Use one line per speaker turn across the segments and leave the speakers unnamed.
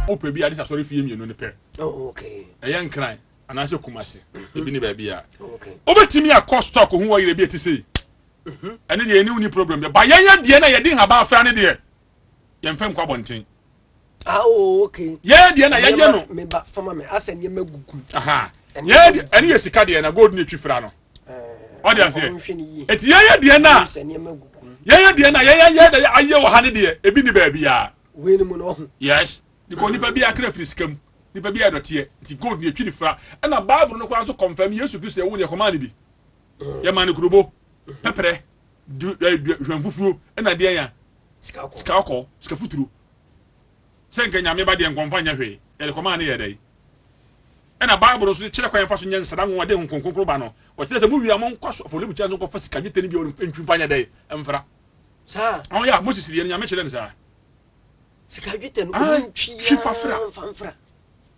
wopɛ bi ade sɛ asɔre fie mmienu no pɛ oh, ɛyɛ
nkran
anaasɛ kum ase mhm. ebi ne baabi a wobɛtumi
akɔ stock
ho wɔyerɛ bi ɛte sei mhm. ɛne deɛ ɛne woni problem deɛ ba yɛyɛ deɛ na yɛde nhaba afra ne deɛ yɛmfɛ nkɔ abɔnten Ah, oh,
okay. Yeah, deɛ na yɛyɛ no.
Me ba fama me asɛ
nneɛ ma gugu. Aha. Yeah,
deɛ ɛne yɛ sika deɛ na gold ne twi fira no. Ɔde eh, aseɛ. Eti yɛyɛ deɛ na. Yɛyɛ deɛ na yɛyɛ yɛ deɛ ayɛ wɔ ha ne deɛ ebi ni baabi ya. Wei ni mu na ɔho.
Yes. Because
nipa bi akara firi sika mu. Nipa bi adɔteɛ. Eti gold ne twi ne fira. Ɛna bible no kora nso confirm Yesu Kristo ɛwo ne ɛkɔmaa ne bi. Yɛ maa ne kurobo. Pɛpɛrɛ. Hwɛn fufuo. Ɛna deɛ ya. sika ɔkɔɔ, sika futuro. Sɛ nka nyame ba deɛ nka ɔmfa nyɛ hwee, yɛde kɔmaa ne yɛ dɛn? Ɛna Bible nso de kyerɛ kwan yɛmfa so nyɛ nsra nwonwa de Honhom Kronkron ba no. Ɔkyerɛ sɛ mowie a monkɔ so afɔrebukyia nso nkɔfa sika dwetɛ no bi a ɔde ntwi mfa nyɛ dɛn? Mfra. Saa. Ɔho
yɛ a Moses deɛ no
nyame kyerɛ no saa. Sika
dwetɛ no ɔmo ntwi yɛ mfa
mfra.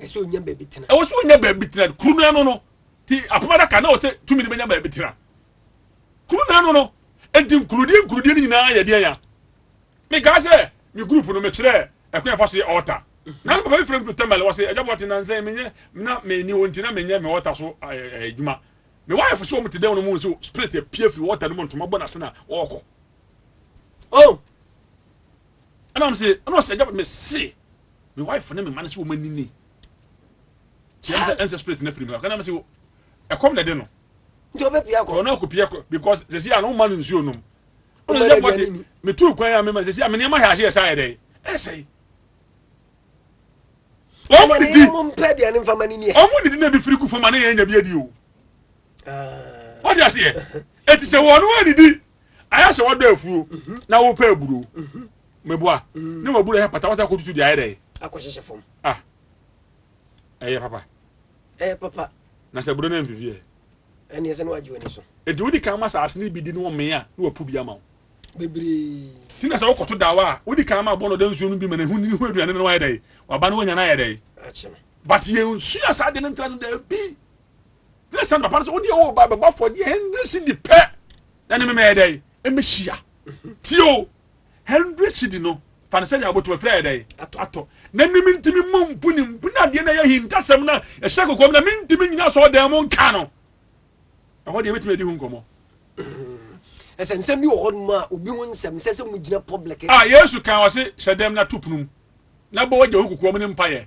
ɛsɛ onya baabi tena ɛwɔ sɛ onya baabi
tena kuru no ano no ti apam adaka na ɔsɛ tumi no bɛnya baabi tena kuru no ano no enti nkurudie nkurudie no nyinaa yɛ deɛ ya mekaa sɛ me group no mekyerɛ ɛkwan ɛfa so yɛ ɔɔta na no papa bi frɛ me to tɛmɛl wɔ sɛ agya bɔte nansɛn menyɛ na meni hɔ nti na menyɛ me ɔɔta so adwuma me wife so wɔn te dɛm no mu nso spirit apue firi ɔɔta no mu ntoma bɔ n'ase na ɔɔkɔ
oh
Ɛna ɔmo se, ɛna ɔse agya me se me wife ne me mma no se wɔn ani ni. Sɛ ɛnsɛ ɛnsɛ spirit na firi mu. Ɛna ɔmo se ɛkɔm na ɛde no. Nti ɔbɛ pia kɔ.
Ɔno akɔ pia kɔ because
sɛ si a na ɔmo ma no nsuo nom. Ɔmo sɛ ɛbɔ te me tu kwan a me ma sɛ si a me nneɛma hɛ ahye ɛsa ayɛ dɛ ɛsɛ yi. Ɔmo didi. Ɔmo mpɛ deɛ
ne nfa ma ne ni yɛ. Ɔmo didi na ebi firi gu
fam a ne yɛn nya bi adi o. Ɔde aseɛ. Eti sɛ wɔn wɔn didi Ayɛ sɛ wɔdɔ afuo na wopɛ aburo. Meboa ne waburo ɛhɛ pata wasa akɔtutu deɛ ayɛ dɛ. Akɔhyehyɛ fam. Ah
ɛyɛ papa.
Ɛyɛ papa. Na sɛ aburo no amfifi ɛ. Ɛne ɛsɛ ne
wagye w'ani so. Enti wodi kan ma saase
no bi di ne wɔmee a ne wapu bi ama wo. Bebree.
Ti na sɛ wokɔto
dawa a wodi kan ma bɔ no ɔda nsuo no bi ma ne ho ne ho aduane no wayɛ dɛ. Waba no wanya no ayɛ dɛ. Akye no. But yɛn sua saa deɛ no ntra no daabi. Gyina sɛ papa no sɛ wodeɛ wo ba bɛbɔ afɔdeɛ hundred cedi pɛ na ne memɛyɛ dɛ ɛmɛhyia tie o hundred cedi no fa no sɛdeɛ wobɛtumi afiri ayɛ dɛ atɔ na ne mentumi mmɔ mpu ne mpu na adeɛ no ɛyɛ hintasɛm no ɛhyɛ kokoam na mentumi nyina sɛ ɔdan mu nka no ɛhɔ deɛ ɛbɛtumi adi ho nkɔmmɔ
ɛsɛ nsɛm bi wɔ hɔ nom a obi ho nsɛm sɛ sɛ mu gyina public a yesu kan ɔse
hyɛ dɛm na to pono mu na bɔ wagya ho kokoam ne mpayɛ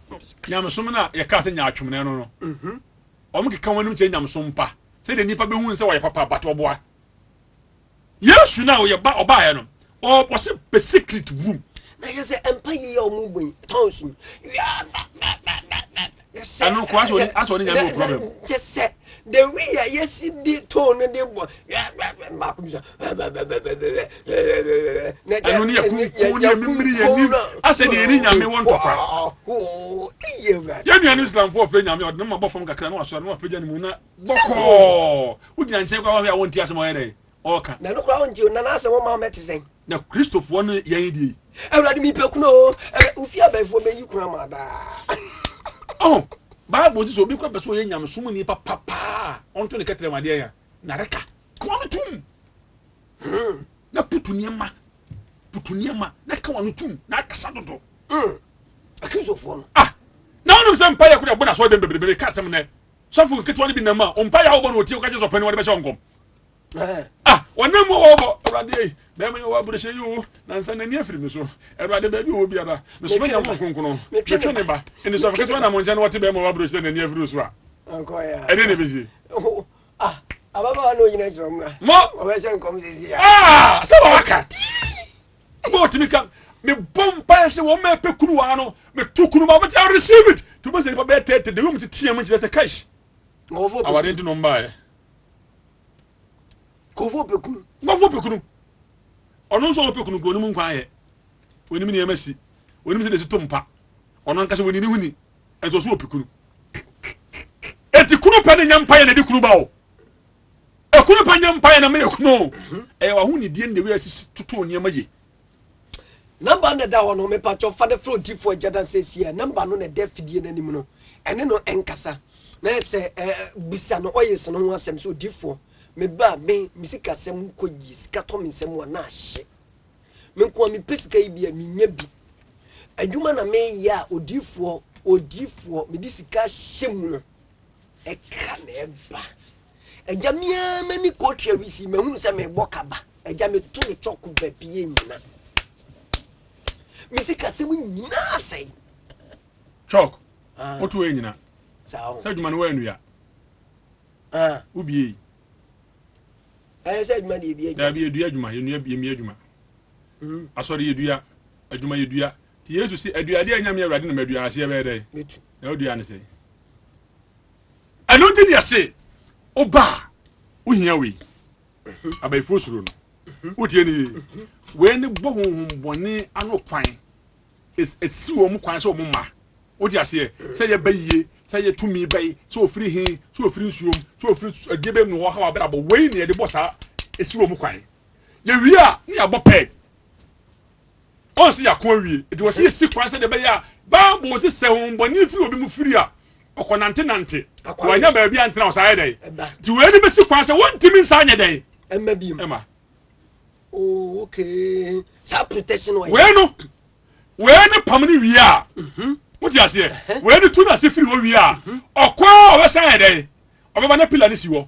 Nyamesom no a
yɛkaa sɛ nyaatwom na ɛno no, wɔkeka ho anom kyerɛ nyamesom pa, sɛdeɛ nnipa bɛhu sɛ wɔyɛ papa but wɔboa. Yesu no a ɔyɛ ba ɔbaeɛ no, ɔse pɛ secret room. Na yɛ sɛ mpa
yi yɛ ɔmo bɔ yi tɔn so yi.
Ɛno kɔ asɔ ne nyame wɔ problem. Kyɛ sɛ The
way a yɛsi de tone no de bɔ baako bi
sɛ ɛno ne yɛkunkum ne yɛmimiri yɛnim asɛ deɛ yɛne nyame wɔ ntɔkwa yɛnua no islamfoɔ ɔfrɛ nyame ɔde ne ma bɔ fam kakra na wasɔre na wapagya ne mu na bɔkɔɔ wogyina nkyɛn kwa wahwɛ a wonte asɛm ɔyɛ dɛn ɔɔka. Na ɛno koraa wo nte o, na
n'asɛm wo maa mɛte sɛn. Na Kristofoɔ no
yɛn deɛ yi. Awurade me pɛ kunu
o, ɛnɛ wo fie abɛɛfoɔ mɛ yi kunu ama daa.
Ɔho, Bible sɛ
obi
kora pɛ sɛ ɔyɛ nyamesom
ni
papa paa, ɔnto ne kɛtɛrɛ wadeɛ ya, na reka, ka wano tum. Hmm. Na putu nneɛma, putu nneɛma, na ka wano tum, na akasa dodo. Hmm.
Akristofoɔ no. Ah, na wonim sɛ
mpa yɛ kora ɛbɔ na sɔɔ dɛm bebrebe, meka atɛm nɛ, sɔfo nketewa no bi nam a, ɔmpa yɛ a wobɔ na ɔtie, woka kyɛ sɛ ɔpɛ ne wɔde bɛhyɛ ɔnkɔm. ah wɔnam mu wɔbɔ awurade ei bɛrima yi wɔ aburohyɛ yi o nansa n'ani afiri me so awurade baabi wɔ biara mesoma nya ho nkonkono metwe ne ba nnisɔfo ketewa nam nkyɛn na wɔte bɛrima wɔ aburohyɛ n'ani afiri so a ɛne ne
bɛsie ababaawa na ɔnyina kyerɛ mmra wɔbɛhyɛ nkɔm sɛsi a sɛ
wɔaka ma ɔtumi ka mebɔ mpaeɛ sɛ wɔn ma ɛpɛ kunu waa no meto kunu ma wɔte receive it to bɛ sɛ nipa bɛyɛ tɛtɛ de wɔm te team nkyerɛ sɛ kash awade
nti no mbaeɛ nkɔfoɔ ɔpɛ kunu nkɔfoɔ ɔpɛ kunu
ɔno nso ɔpɛ kunu ɔnim nkwa ayɛ ɔnim nneɛma si ɔnim sɛ desi to mpa ɔno ankasa wɔnini ho ni ɛnso ɔso ɔpɛ kunu eti kunu pɛ ne nya mpa yɛ na ɛde kunu ba o ekunu pɛ nya mpa yɛ na meyɛ kunu o ɛyɛ waho ne die na ewi asisi toto nneɛma yie
Number na ɛda hɔ no mepatwɔ fa no frɛ odiifo agya da sɛsi a number no na ɛda afidie no anim no ɛne no ɛnkasa na yɛ sɛ bisa no ɔyɛs no ho asɛm sɛ odiifoɔ meba me me sikasɛm kɔ yie sika tɔ me nsɛm a na ahye me nko a mepɛ sika yi bi a menya bi adwuma na meyɛ a odiifoɔ odiifoɔ mede sika hyɛ mu no ɛka na ɛba agya me ara m'ani kɔ twɛ wisi mahunu sɛ mebɔ kaba agya meto no twɔko baabi yɛ nyina me sikasɛm nyinaa sɛe
twɔk ah. woto ɛ nyina sɛ adwuma no
woanua ah.
wobiei ɛyɛ sɛ
adwuma deɛ bi adwuma daabi yɛdua adwuma yɛnua
yɛmia adwuma hmm. asɔre yɛdua adwuma yɛdua Yesu se, Aduade a enya me Awurade na madua aseɛ bɛyɛ dɛn? Na wodua no
sɛn?
Ɛno nti na yɛse, wo ba a, wohia wei. Abayifoɔ suro no. Wotie no yie. Wei ne bɔ honhommɔne ano kwan. Ɛsi wɔn kwan sɛ wɔn mma. Wote aseɛ? Sɛ yɛ ba yie, sɛ yɛ tumi bɛyi, sɛ ofiri he, sɛ ofiri nsuom, sɛ ofiri ɛdeɛ bɛm na wɔha w'abrabɔ. Wei ne yɛde bɔ saa ɛsi wɔn kwan. Yɛwie a, ne yɛabɔ pɛɛd. Ɔnsɛ yɛako awie, enti wɔsɛ yɛsi kwan sɛdeɛ ɛbɛyɛ a Bible se sɛ honhommɔne firi obi mu firi a, ɔkɔnantenante, wanya baabi antena ɔsan yɛ dɛn. Nti wei ne bɛsi kwan sɛ wontumi nsa nyɛ dɛn ɛma bi mu. Oh,
okay. Saa protection wɔ yɛ. Wei no,
wei ne pam ne wie a. Mhm. Wote aseɛ? Wei ne tu no ase firi hɔ wie a. Mhm. Ɔkɔ a ɔbɛsan yɛ dɛn? Ɔbɛba na pila ne si hɔ.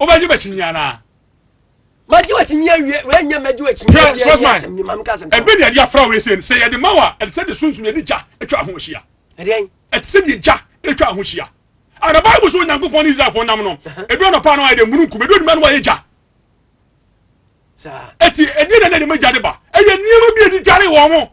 wobɛgye bɛkyinyi anaa magye
wakyinyi awie wɛnyɛ magye wakyinyi awie yɛ asɛm ni maame ka asɛm tɔ ɛbɛ ni ɛde afra wei sɛ
sɛ yɛde ma wa ɛde sɛ de sunsun yɛde gya atwa ho ahyia ɛdeɛn ɛte
sɛ deɛ gya
atwa ho ahyia ana bible so onyankopɔn ne israelfoɔ nam no ɛdu anɔpa no ayɛ dɛ mununkum ɛdu anuma no ayɛ gya
ɛti ɛdeɛ na ɛde ma gya
de ba ɛyɛ nneɛma bi a ɛde dware wɔn mo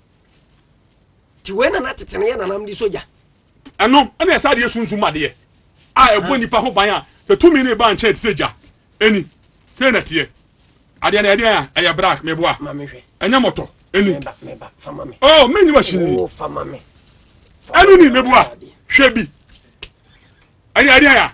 Ti wei na na tete no yɛ nanam de sogya. Ɛno ɛna
ɛsɛ adeɛ sunsum adeɛ a ɛbɔ nipa ho ban a sɛ tumi ne ba nkyɛn te sɛ gya ɛni sɛ na teɛ adeɛ na ɛdeɛ a ɛyɛ black meboa ɛnyɛ mɔtɔ
ɛni oh menyi wa
hyini
ɛni ni
meboa hwɛ bi ɛni ɛdeɛ a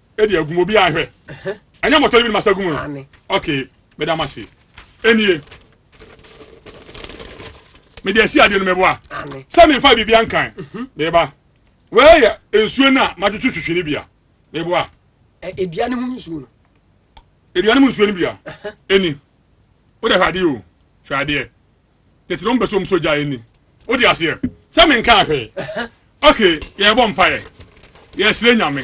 ɛde agum obi ahwɛ ɛnyɛ mɔtɔ no bi masa gum no ok meda mo ase ɛnie mede asi adeɛ no mɛboa sɛ memfa biribi ankan mhm. meba wei yɛ nsuo no a matwetwe twitwi no bia meboa ɛdua
no ho nsuo no
ɛdua no mu nsuo no bia ɛni wodɛ hwɛ adeɛ o hwɛ adeɛ tete no ɔmpɛ sɛ ɔm so gya anim wode aseɛ sɛ menkaa hwee ok yɛbɔ mpaeɛ yɛsrɛ nyame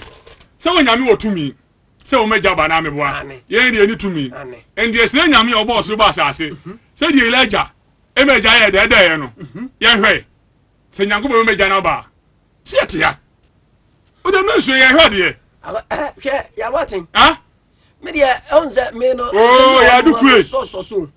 sɛ wɔ nyame wɔ tumi sɛ wɔmɛgya ba naa meboa yɛn deɛ ɛni tumi ɛndeɛ srɛ nyame a ɔbɔ ɔsoro bɔ asase mhm. sɛ deɛ yɛla agya ɛmɛgya yɛ dɛɛdɛɛyɛ no mhm. yɛhwɛ sɛ nyankopɔn bɛmɛgya no baa sɛ yɛte ha wode mensuo yɛhwɛ adeɛ hwɛ
yɛawaten medeɛ ɛhu sɛ me
no yɛadukue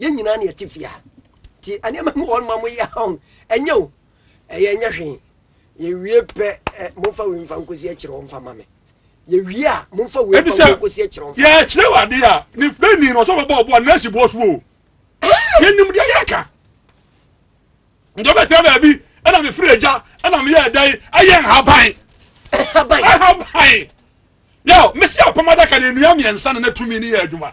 Yɛn nyinaa na
yɛte fie ha. Nti nneɛma mu wɔn ma mo yɛ ahɔn. Ɛnyɛ o. Ɛyɛ nyɛ hwee. Yɛwie pɛ ɛ momfa wei mfa nkosi akyerɛ wɔn mfa ma me. Yɛwie a momfa wei mfa nkosi akyerɛ wɔn. Yɛ kyerɛ wade a
ne fɛ ni na ɔsɔ bɛbɔ ɔbɔ a nɛɛsi bɔ so o. Yɛn nim deɛ yɛka. Ntɔ bɛ tɛ baabi ɛna me firi agya ɛna me yɛ ɛda yi ɛyɛ nhaban. Nhaban. Nhaban. Yɛ mesi apam adaka na nnua mmiɛnsa na na tumi ne yɛ adwuma.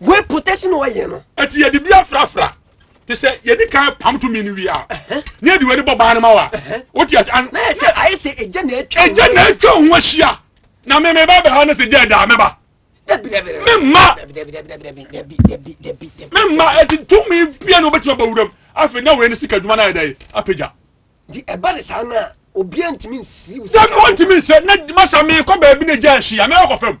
wei protection wɔ yɛ no. ɛti yɛ de bi afrafra
te sɛ yɛ de kan pam to mi ni wi a ne yɛ de bɔ baa ne ma wa o ti yɛ sɛ. na yɛ
sɛ ayɛ sɛ egya na etwa ho egya na etwa ho
ahyia na mi mi ba bɛ ha ne sɛ gya ɛda mi ba mi ma mi ma ɛti tumi bia na o bɛ ti ma ba wura mu afei na wura ni sika adwuma na yɛ dɛ yi apagya. di ɛba de
saa naa obiara ntumi nsi. sɛ mi wɔn ntumi nsɛ
ne masa mi kɔ baabi ne gya nhyia mi akɔ fam.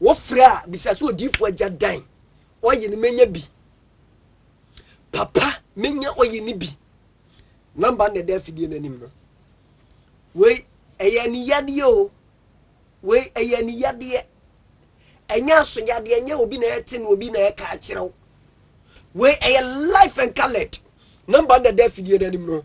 Wofrɛ a, bisa sɛ odiifo agya dan ɔye no menya bi. Papa menya ɔye no bi. Namba no na ɛda afidie no anim no. Wei ɛyɛ aniyadeɛ o. Wei ɛyɛ aniyadeɛ. Ɛnyɛ asoyadeɛ, ɛnyɛ obi na ɛte no obi na ɛka akyerɛ wo. Wei ɛyɛ life and colored. Namba no na ɛda afidie no anim no.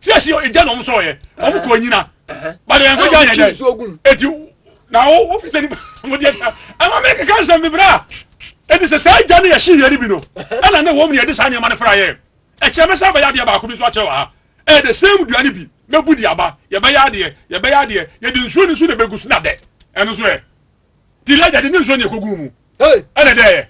siesie egya na ɔmo sɔɔ yɛ ɔmo kɔ nyina bade yɛn kɔgya yɛn dɛ eti na wo wo fisɛ nipa mo deɛ ta ɛma mi keka nsɛm bebree a eti sɛ saa egya ne yɛ si yɛ ni bi no ɛna ne wɔm ne yɛ de saa nneɛma ne fara yɛ ɛkyɛ mɛ sɛ ɛbɛyɛ adeɛ baako bi nso akyɛ wɔ ha ɛyɛ de same dua ne bi mɛ bu di aba yɛbɛyɛ adeɛ yɛbɛyɛ adeɛ yɛde nsuo ne nso na ɛbɛgu so na dɛ ɛno nso yɛ. Di lagya de ne nsuo ne ɛkɔguu mu ɛna dɛɛyɛ.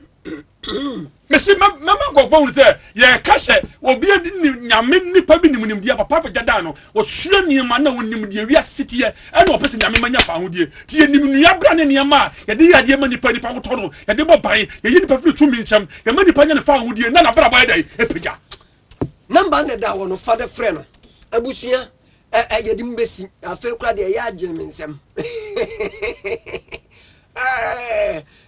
Mese mɛma nkɔfoɔ hunu sɛ yɛka hyɛ obi ne nyame nipa bi nim nimdeɛ papa bɛgya daa no wɔsua nneɛma na wɔnim deɛ wiase siteɛ ɛna wɔpɛ sɛ nyame ma nya fa ahodeɛ nti yɛnim nnua bra ne nneɛma a yɛde yɛ adeɛ ma nipa nipa wotɔ no yɛde bɔ ban yɛyi nipa firi tumi nkyɛm yɛma nipa nya ne fa ahodeɛ na nabrabɔ yɛ dɛn ɛpagya Number
na da wɔ no fa bɛ frɛ no abusua ɛ ɛ yɛde mu bɛsi afei kora deɛ ɛyɛ agyene me nsɛm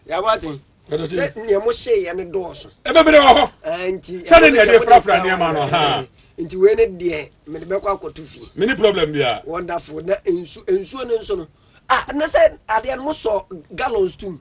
yɛabɔ aten sɛ neɛ mo hyeeɛ no dɔɔso ɛbɛbere wɔ hɔ
nti sɛde neɛ
deɛ frafra
nneɛma no ha nti wei ne deɛ
mede bɛkɔ akɔto fie mene problem bia
wonderful na nsu
nsuo no nso no ah na sɛ adeɛ no mosɔ gallons tom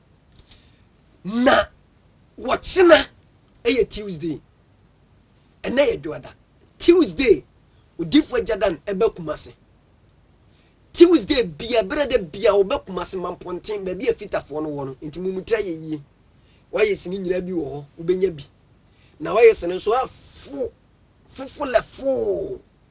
Na wɔkyena ɛyɛ Tuesday. Ɛnɛ yɛ dwoada. Tuesday odifo agya dan ɛbɛ kumase. Tuesday bia ɛberɛ dɛ bia ɔbɛ kumase ma mpɔnten baabi a fitafoɔ no wɔ no. Nti mo mu tira yɛ yie. Wɔayɛ sini nyinaa bi wɔ hɔ. Wobɛnya bi. Na wɔayɛ sini nso a fo. Fofo lɛ foo.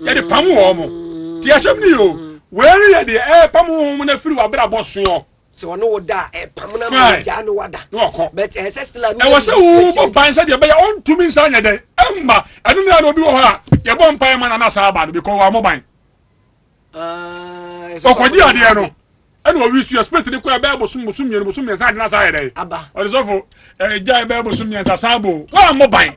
yɛde pam wɔn mo ti ahyɛm ni o wei no yɛ deɛ ɛɛpam wɔn mo na firi w'abrabɔ soɔ sɛ ɔne wo
da a ɛpam na ma gyaa ne wada na ɔkɔ but ɛyɛ sɛ still ɛno ɛwɔ sɛ wo bɔ ban
sɛ deɛ ɛbɛyɛ ɔntumi nsa nyɛ dɛn ɛmma ɛno na obi wɔ hɔ a yɛbɔ mpaeɛ ma na na saa aba no because wɔamɔ ban ɔkɔgye adeɛ no ɛna owi su ɛspɛt ne kɔɛ bɛɛ bosom bosom mmienu bosom mmiɛnsa adi na saa yɛ dɛ ɔde sɔfo ɛgya bɛɛ bosom mmiɛnsa saa bo wɔn a mo ban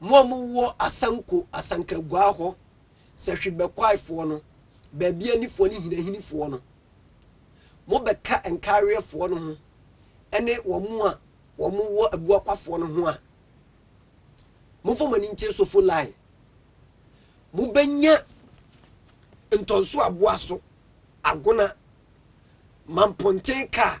Mo a mo wɔ Asanko, Asankraguaa hɔ, Sɛhwi Bɛkwae foɔ no, Baabiani foɔ ne Hinahini foɔ no, mo bɛ ka Nkaareɛ foɔ no ho ɛne wɔn a wɔn wɔ Abuakwa foɔ no ho a, mo nfa mo ani nkyere Sofo Lai. Mo bɛ nya Ntɔnso Aboaso, Agona, Manponten kaa.